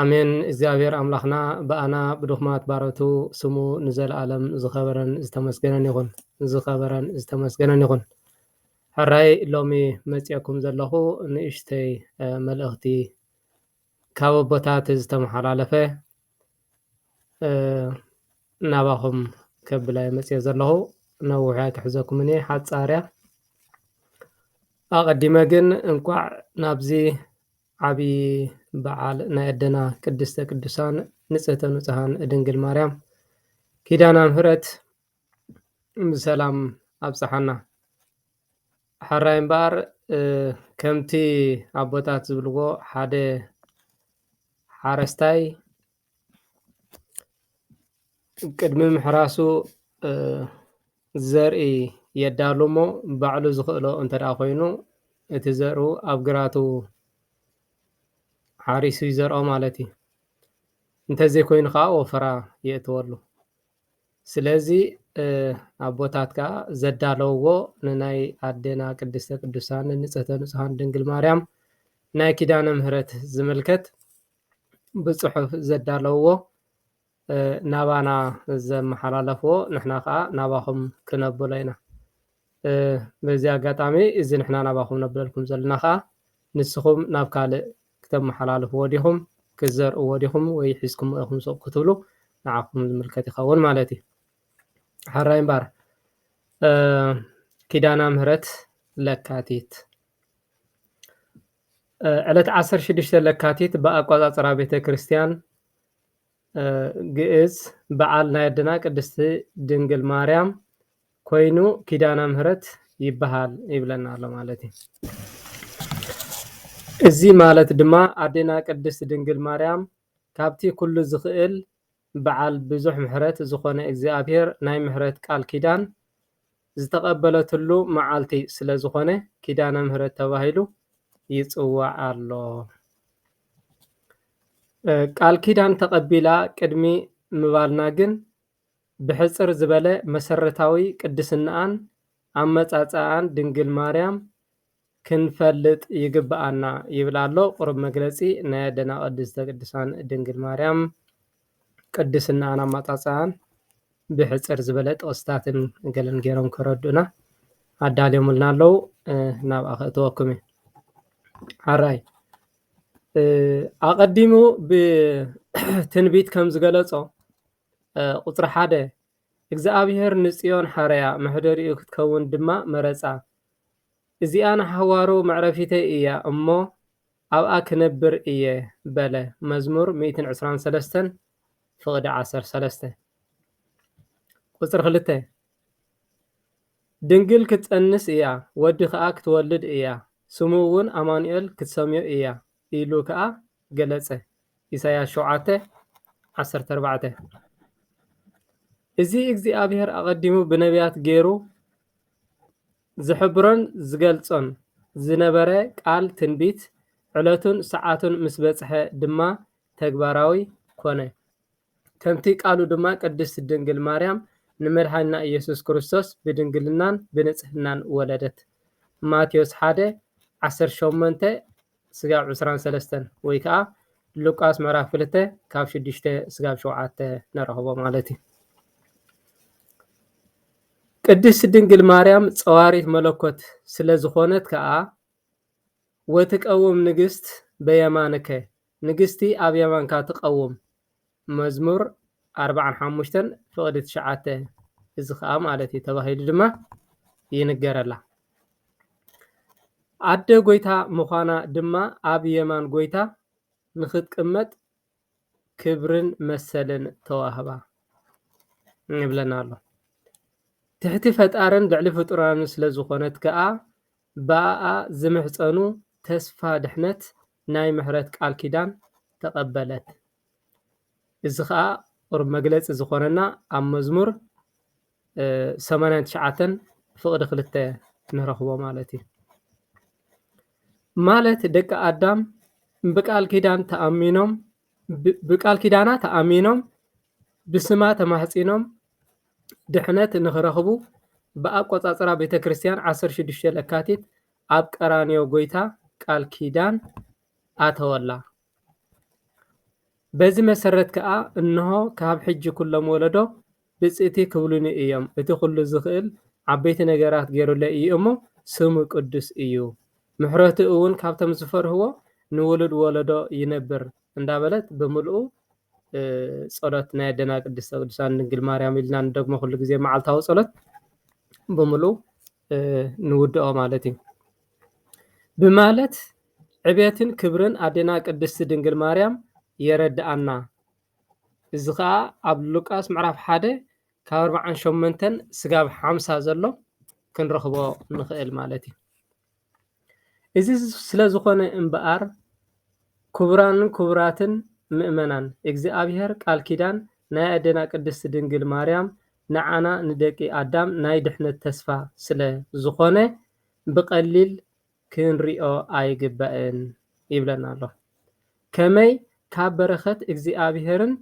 ኣሜን እግዚኣብሔር ኣምላክና ብኣና ብድኹማት ባሮቱ ስሙ ንዘለኣለም ዝኸበረን ዝተመስገነን ይኹን ዝኸበረን ዝተመስገነን ይኹን ሕራይ ሎሚ መፅኦኩም ዘለኹ ንእሽተይ መልእኽቲ ካብ ኣቦታት ዝተመሓላለፈ ናባኹም ከብላይ መፅኦ ዘለኹ ነዊሕ ኣይክሕዘኩምን እየ ሓፃርያ ኣቐዲመ ግን እንኳዕ ናብዚ ዓቢ በዓል ናይ ኣደና ቅድስተ ቅዱሳን ንጽህተ ንጹሃን ድንግል ማርያም ኪዳና ምህረት ብሰላም ኣብጽሓና። ሓራይ እምበኣር ከምቲ ኣቦታት ዝብልዎ ሓደ ሓረስታይ ቅድሚ ምሕራሱ ዘርኢ የዳሉ እሞ ባዕሉ ዝኽእሎ እንተድኣ ኾይኑ እቲ ዘርኡ ኣብ ግራቱ ሓሪሱ ይዘርኦ ማለት እዩ። እንተዘይኮይኑ ከዓ ወፈራ የእትወሉ። ስለዚ ኣቦታት ከዓ ዘዳለውዎ ንናይ ኣዴና ቅድስተ ቅዱሳን ንፅህተ ንፁሃን ድንግል ማርያም ናይ ኪዳነ ምህረት ዝምልከት ብፅሑፍ ዘዳለውዎ ናባና ዘመሓላለፍዎ ንሕና ከዓ ናባኹም ክነብሎ ኢና። በዚ ኣጋጣሚ እዚ ንሕና ናባኹም ነብለልኩም ዘለና ከዓ ንስኹም ናብ ካልእ ክተመሓላልፍዎ ዲኹም ክትዘርእዎ ዲኹም ወይ ሒዝክሞ ኢኹም ሱቕ ክትብሉ ንዓኹም ዝምልከት ይኸውን ማለት እዩ። ሓራይ እምባር ኪዳና ምህረት ለካቲት ዕለት ዓሰርተ ሽዱሽተ ለካቲት ብኣቋፃፅራ ቤተ ክርስቲያን ግእዝ በዓል ናይ ኣደና ቅድስቲ ድንግል ማርያም ኮይኑ ኪዳነ ምህረት ይበሃል ይብለና ኣሎ ማለት እዩ። እዚ ማለት ድማ ኣዴና ቅድስት ድንግል ማርያም ካብቲ ኩሉ ዝኽእል በዓል ብዙሕ ምሕረት ዝኾነ እግዚኣብሔር ናይ ምሕረት ቃል ኪዳን ዝተቐበለትሉ መዓልቲ ስለ ዝኾነ ኪዳነ ምሕረት ተባሂሉ ይጽዋዕ ኣሎ። ቃል ኪዳን ተቐቢላ ቅድሚ ምባልና ግን ብሕጽር ዝበለ መሰረታዊ ቅድስናኣን ኣመጻጽኣን ድንግል ማርያም ክንፈልጥ ይግብኣና ይብል ኣሎ ቁሩብ መግለጺ ናይ ኣደና ቅድስተ ቅዱሳን ድንግል ማርያም ቅድስናኣን ኣማጻጽኣን ብሕጽር ዝበለ ጥቅስታትን ገለን ገይሮም ከረድኡና ኣዳልዮምልና ኣለዉ ናብኣ ከእትወኩም እየ ሓራይ ኣቐዲሙ ብትንቢት ከም ዝገለጾ ቁፅሪ ሓደ እግዚኣብሔር ንፅዮን ሓረያ መሕደሪኡ ክትከውን ድማ መረፃ እዚኣ ንሓዋሩ መዕረፊተይ እያ እሞ፣ ኣብኣ ክነብር እየ በለ፣ መዝሙር ሚእትን ዕስራን ሰለስተን ፍቕዲ ዓሰርተ ሰለስተ ቁጽሪ ክልተ። ድንግል ክትጸንስ እያ፣ ወዲ ከኣ ክትወልድ እያ፣ ስሙ እውን ኣማኑኤል ክትሰምዮ እያ ኢሉ ከኣ ገለጸ፣ ኢሳይያስ ሸውዓተ ዓሰርተ ኣርባዕተ። እዚ እግዚኣብሄር ኣቐዲሙ ብነብያት ገይሩ ዝሕብሮን ዝገልጾን ዝነበረ ቃል ትንቢት፣ ዕለቱን ሰዓቱን ምስ በጽሐ ድማ ተግባራዊ ኮነ። ከምቲ ቃሉ ድማ ቅድስት ድንግል ማርያም ንመድኃኒና ኢየሱስ ክርስቶስ ብድንግልናን ብንጽሕናን ወለደት። ማቴዎስ ሓደ፣ ዓሰርተ ሸሞንተ፣ ስጋብ ዕስራን ሰለስተን ወይ ከኣ ሉቃስ ምዕራፍ ክልተ ካብ ሽዱሽተ ስጋብ ሸውዓተ ንረኽቦ ማለት እዩ ቅድስት ድንግል ማርያም ጸዋሪት መለኮት ስለ ዝኾነት ከኣ ወትቀውም ንግስት በየማንከ ንግስቲ ኣብ የማንካ ትቀውም መዝሙር ኣርብዓን ሓሙሽተን ፍቕዲ ትሽዓተ እዚ ከዓ ማለት እዩ ተባሂሉ ድማ ይንገረላ። ኣደ ጎይታ ምዃና ድማ ኣብ የማን ጎይታ ንክትቅመጥ ክብርን መሰልን ተዋህባ ይብለና ኣሎ። ትሕቲ ፈጣርን ልዕሊ ፍጡራን ስለ ዝኾነት ከዓ ብኣኣ ዝምሕፀኑ ተስፋ ድሕነት ናይ ምሕረት ቃል ኪዳን ተቐበለት። እዚ ከኣ ቁሩብ መግለጺ ዝኾነና ኣብ መዝሙር ሰማንያን ትሽዓተን ፍቕዲ ክልተ ንረኽቦ ማለት እዩ። ማለት ደቂ ኣዳም ብቃል ኪዳን ተኣሚኖም ብቃል ኪዳና ተኣሚኖም ብስማ ተማሕጺኖም ድሕነት ንኽረኽቡ ብኣቆጻጽራ ቤተ ክርስቲያን 16 ለካቲት ኣብ ቀራንዮ ጎይታ ቃል ኪዳን ኣተወላ። በዚ መሰረት ከኣ እንሆ ካብ ሕጂ ኩሎም ወለዶ ብጽእቲ ክብሉኒ እዮም፣ እቲ ኩሉ ዝኽእል ዓበይቲ ነገራት ገይሩለይ እዩ እሞ ስሙ ቅዱስ እዩ፣ ምሕረቱ እውን ካብቶም ዝፈርህዎ ንውሉድ ወለዶ ይነብር እንዳበለት ብምልኡ ጸሎት ናይ ኣደና ቅድስተ ቅዱሳን ድንግል ማርያም ኢልና ንደግሞ ኩሉ ግዜ መዓልታዊ ጸሎት ብምልኡ ንውድኦ ማለት እዩ ብማለት ዕቤትን ክብርን ኣዴና ቅድስቲ ድንግል ማርያም የረድኣና። እዚ ከዓ ኣብ ሉቃስ ምዕራፍ ሓደ ካብ ኣርባዓን ሸሞንተን ስጋብ ሓምሳ ዘሎ ክንረኽቦ ንኽእል ማለት እዩ። እዚ ስለዝኾነ እምበኣር ክቡራንን ክቡራትን ምእመናን እግዚኣብሔር ቃል ኪዳን ናይ ኣዴና ቅድስት ድንግል ማርያም ንዓና ንደቂ ኣዳም ናይ ድሕነት ተስፋ ስለዝኾነ ብቐሊል ክንሪኦ ኣይግባእን ይብለና ኣሎ። ከመይ ካብ በረኸት እግዚኣብሔርን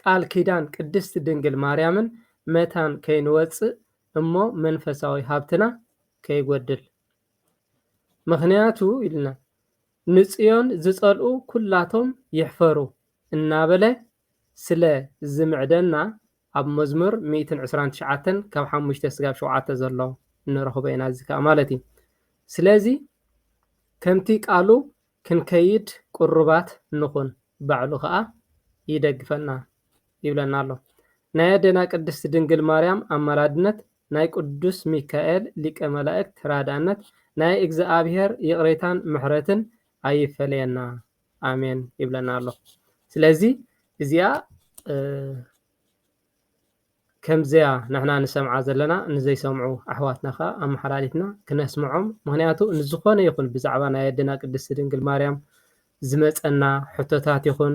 ቃል ኪዳን ቅድስት ድንግል ማርያምን መታን ከይንወጽእ እሞ መንፈሳዊ ሃብትና ከይጐድል። ምኽንያቱ ኢልና፣ ንጽዮን ዝጸልኡ ኵላቶም ይሕፈሩ እናበለ ስለ ዝምዕደና፣ ኣብ መዝሙር ሚእትን ዕስራን ትሽዓተን ካብ ሓሙሽተ ስጋብ ሸውዓተ ዘሎ ንረኽቦ ኢና፣ እዚ ከኣ ማለት እዩ። ስለዚ ከምቲ ቃሉ ክንከይድ ቅሩባት ንኹን፣ ባዕሉ ከኣ ይደግፈና ይብለና ኣሎ። ናይ ኣደና ቅድስት ድንግል ማርያም ኣማላድነት ናይ ቅዱስ ሚካኤል ሊቀ መላእክት ተራዳእነት ናይ እግዝኣብሔር ይቅሬታን ምሕረትን ኣይፈለየና ኣሜን ይብለና ኣሎ ስለዚ እዚኣ ከምዚያ ንሕና ንሰምዓ ዘለና ንዘይሰምዑ ኣሕዋትና ከዓ ኣመሓላሊፍና ክነስምዖም ምክንያቱ ንዝኮነ ይኩን ብዛዕባ ናይ ኣደና ቅድስቲ ድንግል ማርያም ዝመፀና ሕቶታት ይኹን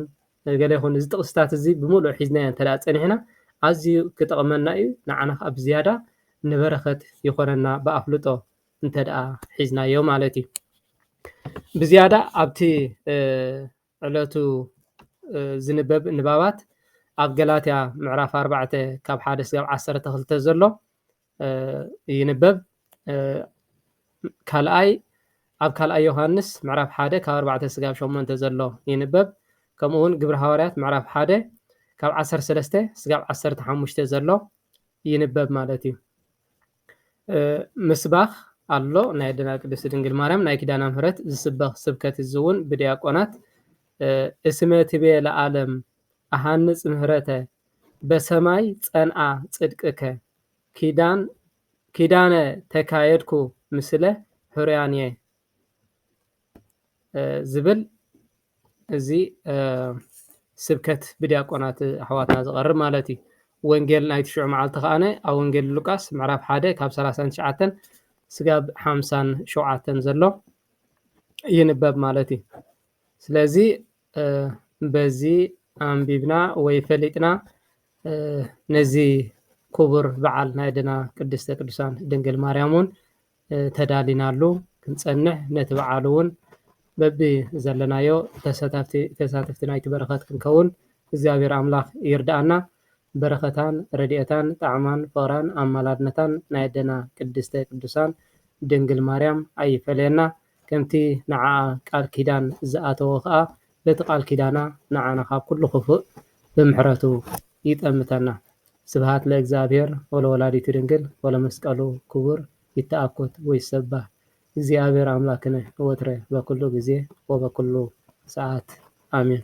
ገለ ይኹን እዚ ጥቕስታት እዚ ብምሉእ ሒዝናዮ እንተድኣ ፀኒሕና ኣዝዩ ክጠቕመና እዩ። ንዓና ከዓ ብዝያዳ ንበረኸት ይኾነና ብኣፍልጦ እንተድኣ ሒዝናዮ ማለት እዩ። ብዝያዳ ኣብቲ ዕለቱ ዝንበብ ንባባት ኣብ ገላትያ ምዕራፍ ኣርባዕተ ካብ ሓደ ስጋብ ዓሰርተ ክልተ ዘሎ ይንበብ። ካልኣይ ኣብ ካልኣይ ዮሃንስ ምዕራፍ ሓደ ካብ ኣርባዕተ ስጋብ ሸሞንተ ዘሎ ይንበብ። ከምኡ እውን ግብሪ ሃዋርያት ምዕራፍ ሓደ ካብ ዓሰርተ ሰለስተ ስጋብ ዓሰርተ ሓሙሽተ ዘሎ ይንበብ ማለት እዩ። ምስባኽ ኣሎ ናይ ኣደና ቅድስቲ ድንግል ማርያም ናይ ኪዳና ምሕረት ዝስበኽ ስብከት እዚ እውን ብዲያቆናት እስመ ትቤ ለዓለም ኣሃንፅ ምህረተ በሰማይ ፀንኣ ፅድቅከ ኪዳን ኪዳነ ተካየድኩ ምስለ ሕሩያን እየ ዝብል እዚ ስብከት ብድያቆናት ኣሕዋትና ዝቐርብ ማለት እዩ ወንጌል ናይ ትሽዑ መዓልቲ ከኣነ ኣብ ወንጌል ሉቃስ ምዕራፍ ሓደ ካብ ሰላሳን ትሽዓተን ስጋብ ሓምሳን ሸውዓተን ዘሎ ይንበብ ማለት እዩ ስለዚ በዚ ኣንቢብና ወይ ፈሊጥና ነዚ ክቡር በዓል ናይ ኣደና ቅድስተ ቅዱሳን ድንግል ማርያም እውን ተዳሊናሉ ክንፀንሕ ነቲ በዓል እውን በቢ ዘለናዮ ተሳታፍቲ ተሳተፍቲ ናይቲ በረኸት ክንከውን እግዚኣብሔር ኣምላኽ ይርዳኣና። በረኸታን ረድኤታን ጣዕማን ፍቕራን ኣማላድነታን ናይ ኣደና ቅድስተ ቅዱሳን ድንግል ማርያም ኣይፈለየና። ከምቲ ንዓኣ ቃል ኪዳን ዝኣተዎ ከኣ በቲ ቃል ኪዳና ንዓና ካብ ኩሉ ክፉእ ብምሕረቱ ይጠምተና። ስብሃት ለእግዚኣብሔር ወለወላዲቱ ድንግል ወለመስቀሉ ክቡር ይተኣኮት ወይሰባህ እግዚኣብሔር ኣምላክነ ወትረ በኩሉ ጊዜ ወበኩሉ ሰዓት ኣሜን።